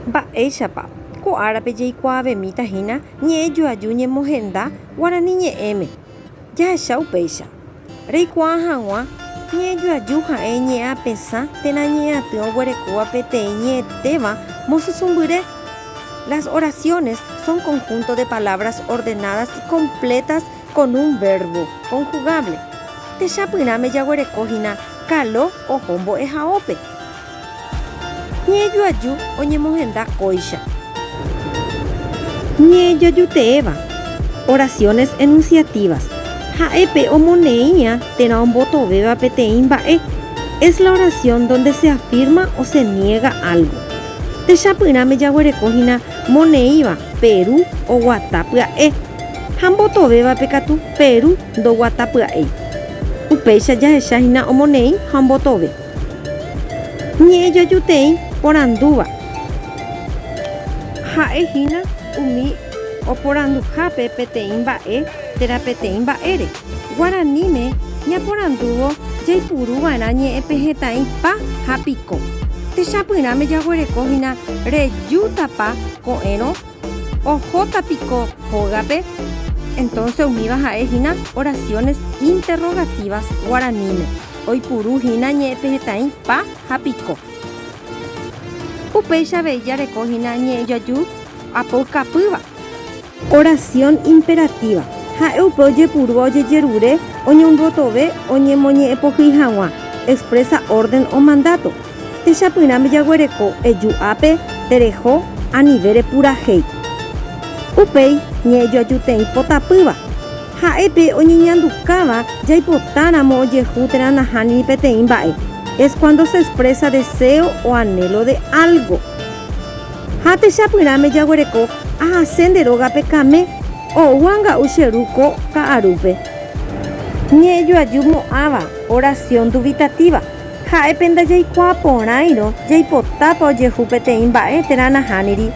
Mba'éichapa ko árape jaikuaavemíta hína ñe'ẽ joaju ñemohenda guarani ñe'ẽme? Jahecha upéicha. Reikuaa hag̃ua ñe'ẽ joaju ha'e ñe'ẽ apesã térã ñe'ẽ aty oguerekóva peteĩ ñe'ẽtéva mosysũmbyre. Las oraciones son conjunto de palabras ordenadas y completas con un verbo conjugable. Techapyrãme jaguereko hína kalo oho mbo'ehaópe. Ñe'ẽjoaju oñemohenda kóicha. Ñe'ẽjoajuteéva, oraciones enunciativas, ha'e pe omoneĩ'ã térã ombotovéva peteĩ mba'e, es la oración donde se afirma o se niega algo. Techapyrãme jaguereko hína moneĩva Peru oguata pya'e ha mbotovévape katu Peru ndoguata pya'éi. Upéicha jahecha hína omoneĩ ha ombotove. Ñe'ẽ jajuteĩ porandúva. Ha'e hína umi oporanduhápe peteĩ mba'e térã peteĩ mba'ére. Guaraníme ñaporandúvo jaipuru va'erã ñe'ẽ pe hetãi pa ha piko. Techapyrãme jaguereko hína rejútapa ko'ẽrõ Ohóta piko hógape? Entonce umíva ha'e hína oraciones interrogativas guaraníme, oipuru hína ñe'ẽpehetã'i pa ha piko. Upéicha avei jareko hína ñe'ẽjoaju apoukapýva. Oración imperativa, ha'e upe ojepurúva ojejerure, oñondotove, oñemoñe'ẽpohýi hag̃ua, expresa orden o mandato. Techapyrãme jaguereko eju'ápe tereho anive repurahéi. Upéi ñe'ejoajuteĩ potapýva. Ha'épe oñeñandukáva jaipotáramo ojehu térã nahániri peteĩ mba'e, es cuando se expresa deseo o anhelo de algo. Ha techapyrãme jaguereko ahase nde rógape kame oúva nga'u che ru ko ka'arúpe. Ñe'ejoaju mo'ãva, oración dubitativa. Ha'e pe ndajaikuaa porãirõ jaipotápa ojehu peteĩ mba'e térã nahániri,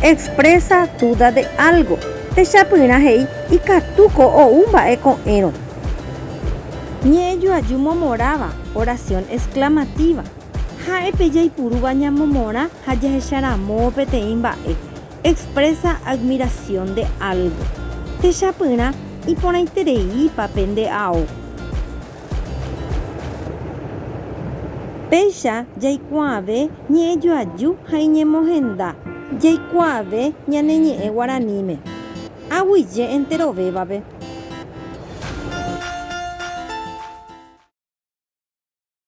expresa duda de algo. Techapyrã he'i ikatúko ou mba'e ko'ẽrõ. Ñe'ẽjoaju momoráva, oración exclamativa. Ha'e pe jaipurúva ñamomorã ha jahecharamóvo peteĩ mba'e, expresa admiración de algo. Techapyrã iporãitereípa pende ao. Péicha jaikuaave ñe'ẽjoaju ha iñemohenda. Jaikuaave ñane ñe'ẽ guaraníme. Aguyje enterovévape.